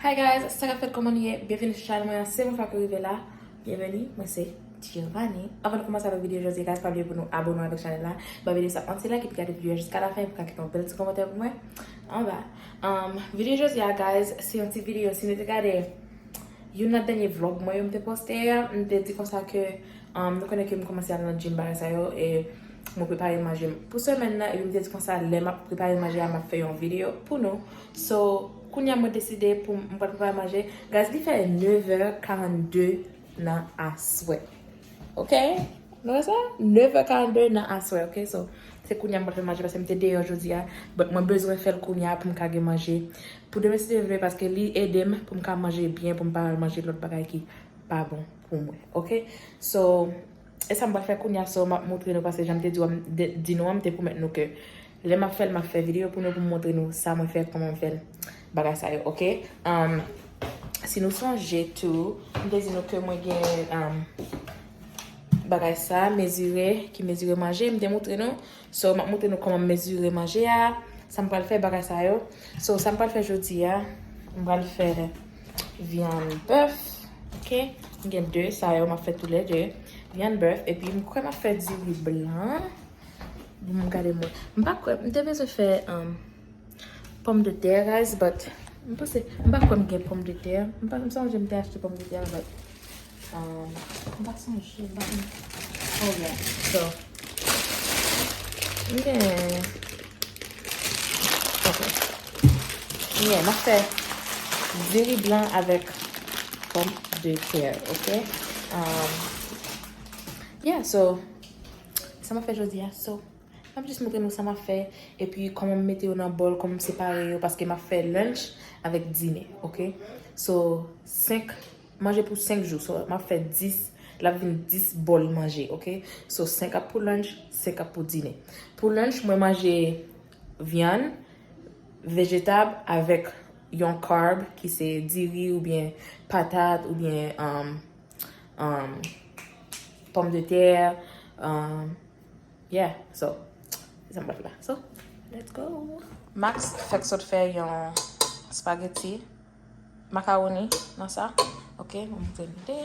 Hi guys sa kap fèt kòman nou ye byenvini sou chanèl mwen se yon fwa ke rive la byenveni mwen se Giovanni avan nou kòmanse avèk videyo jodi guys pa bliye pou nou abòne avèk chanèl la bay videyo sa yon ti like epi gade videyo a jiska la fen pou ka kite yon bèl ti kòmantè pou mwen anba videyo jodi a guys se yon ti videyo si nou te gade youn nan dènye vlog mwen yo m te poste a m te di konsa ke nou konnen ke m kòmanse al nan gym bagay sa yo e mwen prepare manje m pou semèn nan epi m te di konsa lè map prepare manje a map fè yon videyo pou nou. So kounya mwen deside pou m pral prepare manje guys li fè 9 è 42 nan aswè ok nou wè sa 9 è 42 nan aswè ok so se kounya m pral fè manje paske m te deyò jodia but mwen bezwen fè l kounya pou m ka gen manje pou demen si Dye vle paske li ede m pou m ka manje byen pou m pa al manje lòt bagay ki pa bon pou mwen ok so. Esa m pral fè kounya so map moutre nou pase janm te di w an di nou an m te pwomèt nou ke lè map fèl map fè video pou nou pou m moutre nou sa mwen fè koman m fèl bagay sa yo ok humm si nou sonje tou m te di nou ke mwen gen humm bagay sa mezire ki mezire manje m te moutre nou so map moutre nou koman m mezire manje a sa m pral fè bagay sa yo so sa m pral fè jodi a m pral fè. Vyann bèf, ok. M gen 2 sa yo m ap fè tou lè 2. Vyann bèf epi m kwè m ap fè diri blan. Bon m gade m wè. M pa kwè, m te bezwen fè pòmdetè guys but m panse, m pa kwè m gen pòmdetè. M pa, m sonje m te achte pòmdetè but. Mwen pa sonje ban m. Oh yeah. So. M gen. Ok. M gen. Mwen fè. Diri blan avèk. Pom de tè. Ok. Um. Yeah so. Sa mwen fè jodi a. So. Mwen jis moutre nou sa mwen fè. E pi kòman m mete yo nan bòl. Kòman m separe yo. Paske mwen fè lunch. Avèk dine. Ok. So. Senk. Manje pou 5 jou so map fè 10 lap vin 10 bòl manje ok so 5 ap pou lunch 5 ap pou dine pou lunch mwen manje vyann vejetab avèk yon carb ki se diri oubyen patat oubyen umm pòm de tè umm yeah so se sa mwen fè la so let's go Max fèk sot fè yon spaghetti. Makaroni nan sa. Ok, mwen moutre nou de.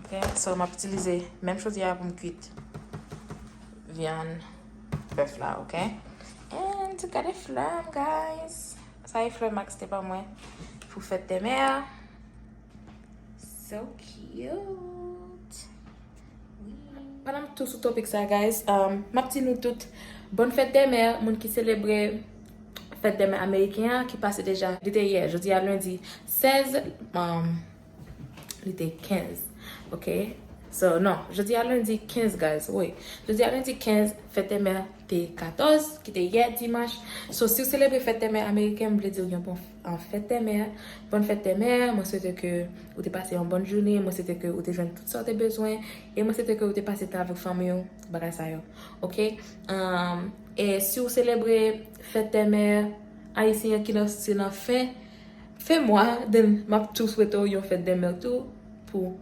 Ok, so mwen ap itilize menm chodi a pou m kwit vyann bèf la, ok. And, gade flè m, guys. Sa e flè Max te ban mwen pou fèt demè a. So cute! Pandan m tou sou topic sa guys, m ap di nou tout Bonne fête des mères, moun ki selebre fèt dè mè ameriken an ki pase deja. Li te yè, jodi a lendi 16, li te 15 ok, so non, jodi a lendi 15 guys, wi, jodi a lendi 15, fèt dè mè te 14 ki te yè dimanch, so si w selebre fèt dè mè ameriken m vle di w yon bon. An fèt tè mè, Bòn fèt tè mè, mwen swete ke ou te pase yon bòn jounen, mwen swete ke ou te jwenn tout sa ou te bezwen, e mwen swete ke ou te pase tan avèk fanmi ou, bagay sa yo ok e si ou selebre fèt tè mè ayisyen ki nan se nan fen fen mwa then map tou swete ou yon fèt dè mè tou pou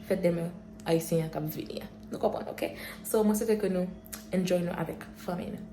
fèt dè mè ayisyen an kap vini an nou konprann ok so mwen swete ke nou enjoy nou avèk fanmi nou.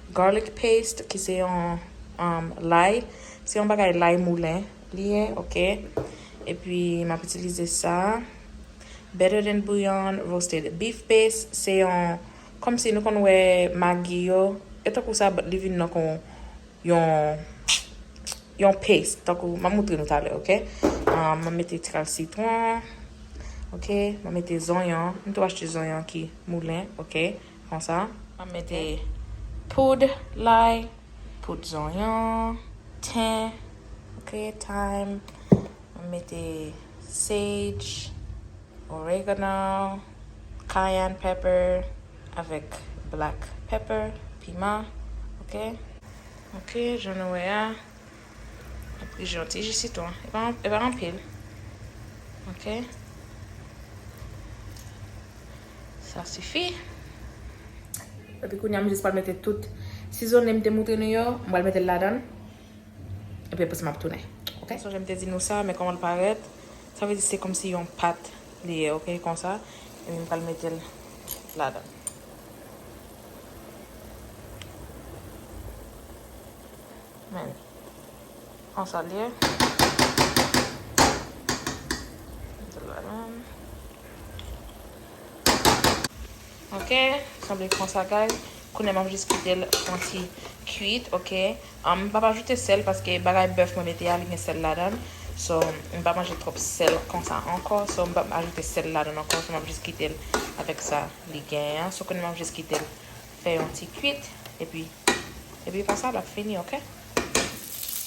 Garlic paste ki se yon lay, se yon bagay lay moulen li ye ok epi map itilize sa better than bouillon roasted beef base se yon kòmsi nou konn wè magi yo e tankou sa but li vin nan kon yon yon paste tankou map moutre nou talè ok map mete ti kal sitron ok map mete zonyon m tou achte zonyon ki moulen ok. Konsa, map mete poud lay, poud zonyon, ten, ok, thyme, map mete sage, oregano, cayenne pepper avèk black pepper, piman, ok. Ok, jan nou wè a. Jan ti ji sitwon. E pa anpil. Ok. Sa sifi. Epi kounye a m jis pral mete tout sizone m te moutre nou yo. M pral mete l ladan l. Epi apre sa m ap tounen. Ok. M sonje m te di nou sa men kòman l parèt. Sa vle di se kòmsi yon pat li ye ok. Konsa. Epi m pral mete l ladan l. Men. Konsa l ye. Mete l la menm. Ok. Sanble konsa guys. Kounye a m ap jis kite l fè yon ti kuit. Ok. M pa p ajoute sèl paske bagay bèf mwen mete a li gen sèl ladan l. So m pa manje twòp sèl konsa ankò. So m pa p ajoute sèl ladan l ankò. So m ap jis kite l avèk sa li genyen an. So kounye a m ap jis kite l. fè yon ti kuit epi epi pa sa lap fini ok.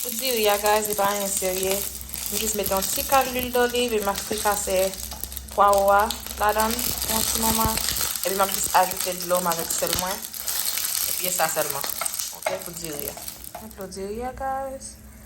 Pou diri a guys li pa anyen serye m jis mete yon ti kal lwil doliv epi map frikase pwawo a ladann pou yon ti moman epi map jis ajoute dlo m avèk sèl mwen epi e sa sèlman ok pou diri a. Mwen dlo diri a guys.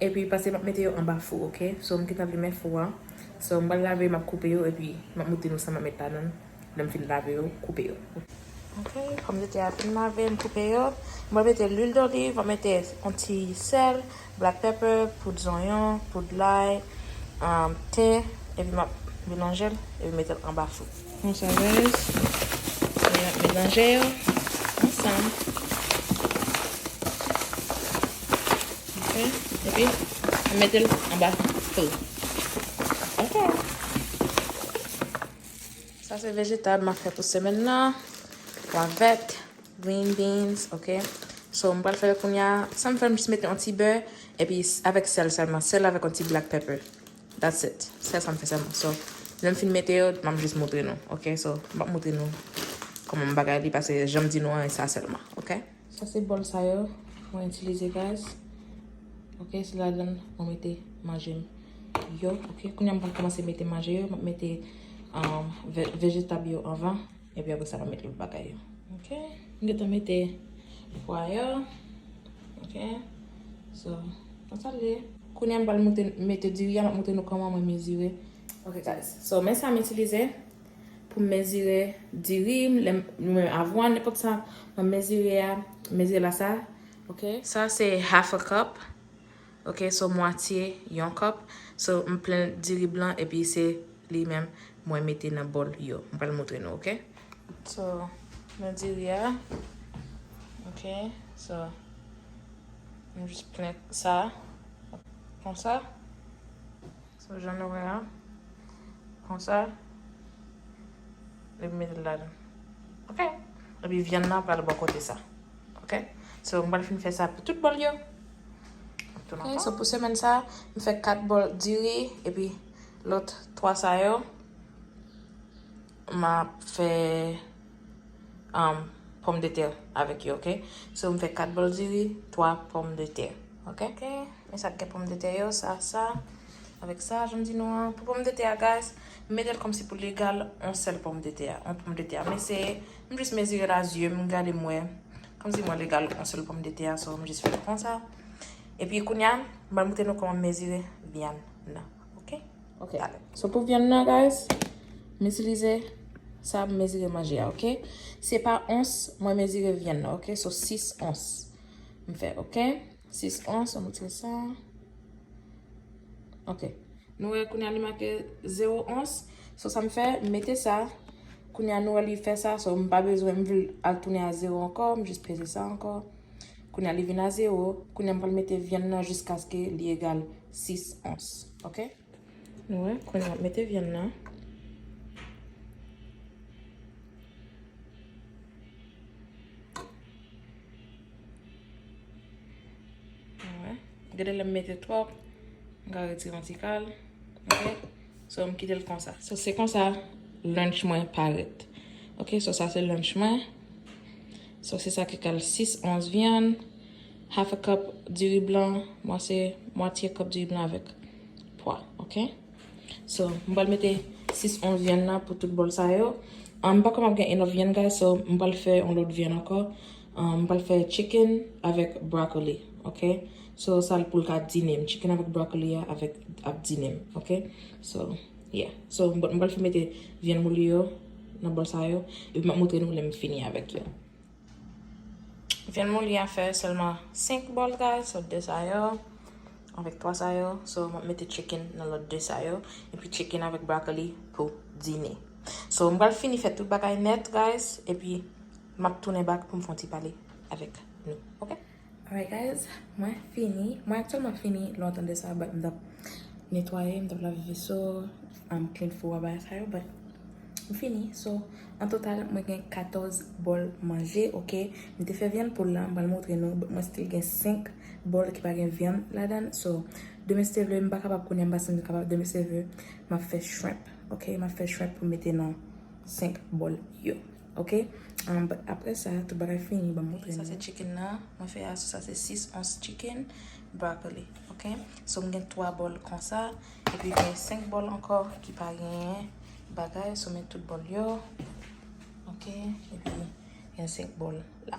Epi pase map mete yo anba fou ok so m gentan limen fou an so m pral lave yo map koupe yo epi map moutre nou sa map met ladan l lèm fin lave yo koupe yo ok. Ok pòm de tè a fin lave m koupe yo m pral mete lwil doliv map mete yon ti sèl black pepper poud zonyon poud lay thym epi map melanjel epi metel anba fou. Bon savez. Mwen ap melanje yo ansanm. Ok. Epi, mwen mete l anba fou. Ok. Sa se vejetab mwen ap fè pou semen nan. Pwa vèt, green beans, ok. So, mwen pral fè l kounya. Sa mwen fè l, mwen jis mete yon ti bè. Epi, avèk sèl sèlman. Sèl avèk yon ti black pepper. That's it. Sèl sa m fè sèlman. So, lè m fin mete yo, m ap jis moutre nou. Ok? So, m pa moutre nou kòman m bagay li pase jan m di nou an e sa sèlman. Ok? Sa se bòl sa yo mwen itilize guys. Ok? Se ladan l mwen mete manje m yo. Ok? Kounya m pral kòmanse mete manje yo. M ap mete vejetab yo anvan. Epi apre sa map met lòt bagay yo. Ok m gentan mete pwa yo ok so konsa l ye. Kounya m pral moute mete diri a map montre nou kòman mwen mezire ok guys so men sa m itilize pou m mezire diri m lè m avwàn nenpòt sa map mezire a mezire la sa ok. Sa se half a cup. Ok so mwatye yon cup so m plen diri blan epi se li menm mwen mete nan bòl yo m pral moutre nou ok so nan diri a ok so m jis plen sa konsa so jan nou wè a konsa epi m mete l ladan ok epi vyann nan pral bò kote sa. Ok so m pral fin fè sa pou tout bòl yo. Ok so pou semèn sa m fè 4 bòl diri epi lòt 3 sa yo m ap fè pòm de tè avèk yo ok so m fè 4 bòl diri 3 pòm de tè ok men sa k gen pòm de tè yo sa sa avèk sa janm di nou an pou pòm de tè a guys m mete l kòmsi pou l egal yon sèl pòm de tè yon pòm de tè m eseye. M jis mezire la zye m gade m wè kòmsi mwen legal yon sèl pòm de tè a so m jis fè l konsa epi kounya m pral montre nou kòman m mezire vyann nan ok ok ale so pou vyann nan guys m itilize sa m mezire manje a ok se pa ons mwen mezire vyann nan ok so 6 ons m fè ok. 6 ons, annou tire sa. Ok. Nou wè kounye an li make 0 ons. So sa m fè, m mete sa. Kounye an nou wè li fè sa. So m pa bezwen m vle al tounen a 0 ankò. M jis peze sa ankò. Kounye an li vin a 0. Kounye an m pral mete vyann nan jiskaske li egal 6 ons. Ok. Nou wè, kounya ap mete vyann nan. Nou wè, gade lè m mete twòp, m ka retire yon ti kal, ok? So, m kite l konsa. So, se konsa lunch mwen parèt. Ok, so sa se lunch mwen. So, se sa ki kal 6 ons vyann. half a cup diri blan mwen se mwatye kòp diri blan avèk pwa ok so m pral mete 6 ons vyann nan pou tout bòl sa yo m pa kwè map gen enough vyann guys so m pral fè yon lòt vyann ankò m pral fè chicken avèk broccoli ok so sa l pou l ka dine m chicken avèk broccoli a avèk ap dine m ok so yeah so m pral fè mete vyann mouli yo nan bòl sa yo epi map moutre nou lè m fini avèk yo. Vyann moli a fè sèlman 5 bòl guys, so 2 sa yo avèk 3 sa yo, so mwen mete chicken nan lòt 2 sa yo, epi chicken avèk broccoli pou dine. So m pral fini fè tout bagay nèt guys, epi map tounen back pou m fè yon ti pale avèk nou ok. Alright guys, mwen fini, mwen aktyèlman fini lontan de sa but m t ap netwaye, m t ap lave veso, m clean fou a bagay sa yo but m fini so an total mwen gen 14 bòl manje ok m te fè vyann poul la m pral moutre nou but mwen still gen 5 bòl ki pa gen vyann ladan so demen si te vle m pa kapab kounye a m pa santi m kapab demen si te vle m ap fè shrimp ok m ap fè shrimp pou m mete nan 5 bòl yo. Ok and apre sa tout bagay fini banm montre nou. Sa se chicken nan mwen fè a sou sa se 6 ons chicken broccoli ok so m gen 3 bòl konsa epi m gen 5 bòl ankò ki pa genyen bagay so m met tout bòl yo ok epi m gen 5 bòl la.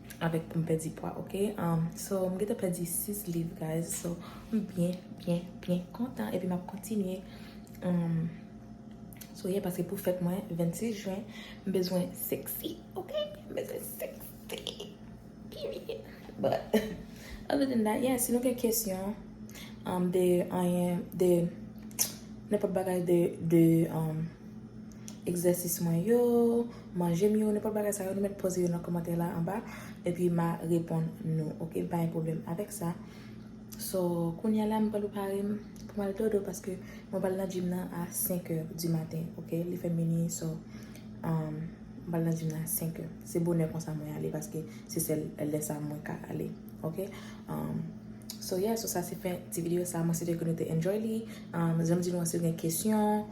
avèk poum pèdi pwa ok so m gentan pèdi 6 liv guys so m byen byen byen kontan epi map kontinye so ye paske pou fèt mwen 26 jen m bezwen sexy ok m bezwen sexy period but other than that yeah si nou gen kesyon de anyen de nenpòt bagay de egzèsis mwen yo manje m yo nenpòt bagay sa yo nou mèt poze yo nan kòmantè la anba epi ma reponn nou ok m pa gen pwoblèm avèk sa so kounya la m pral prepare m pou m al dodo paske mwen pral nan gym nan a 5 è di maten ok li fè minui so m pral nan gym nan a 5 è se bonè konsa mwen ale paske se sèl lè sa mwen ka ale ok so yeah so sa se fen ti video sa mwen swete ke nou te enjoy li janm di nou an si w gen kesyon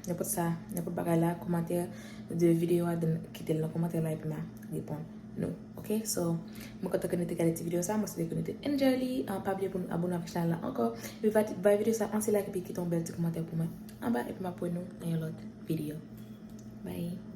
Nenpòt sa, nenpòt bagay la, komantè de video a, dan kite l nan komantè la epi m a reponn nou. Ok, so, mwen kontan ke nou te gade ti video sa, mwen swete ke nou te enjoy li. Pa bliye pou nou abone avèk chanèl la ankò. Epi bay video sa yon ti like epi kite yon bèl ti komantè pou mwen anba epi m ap wè nou nan yon lòt video. Bye!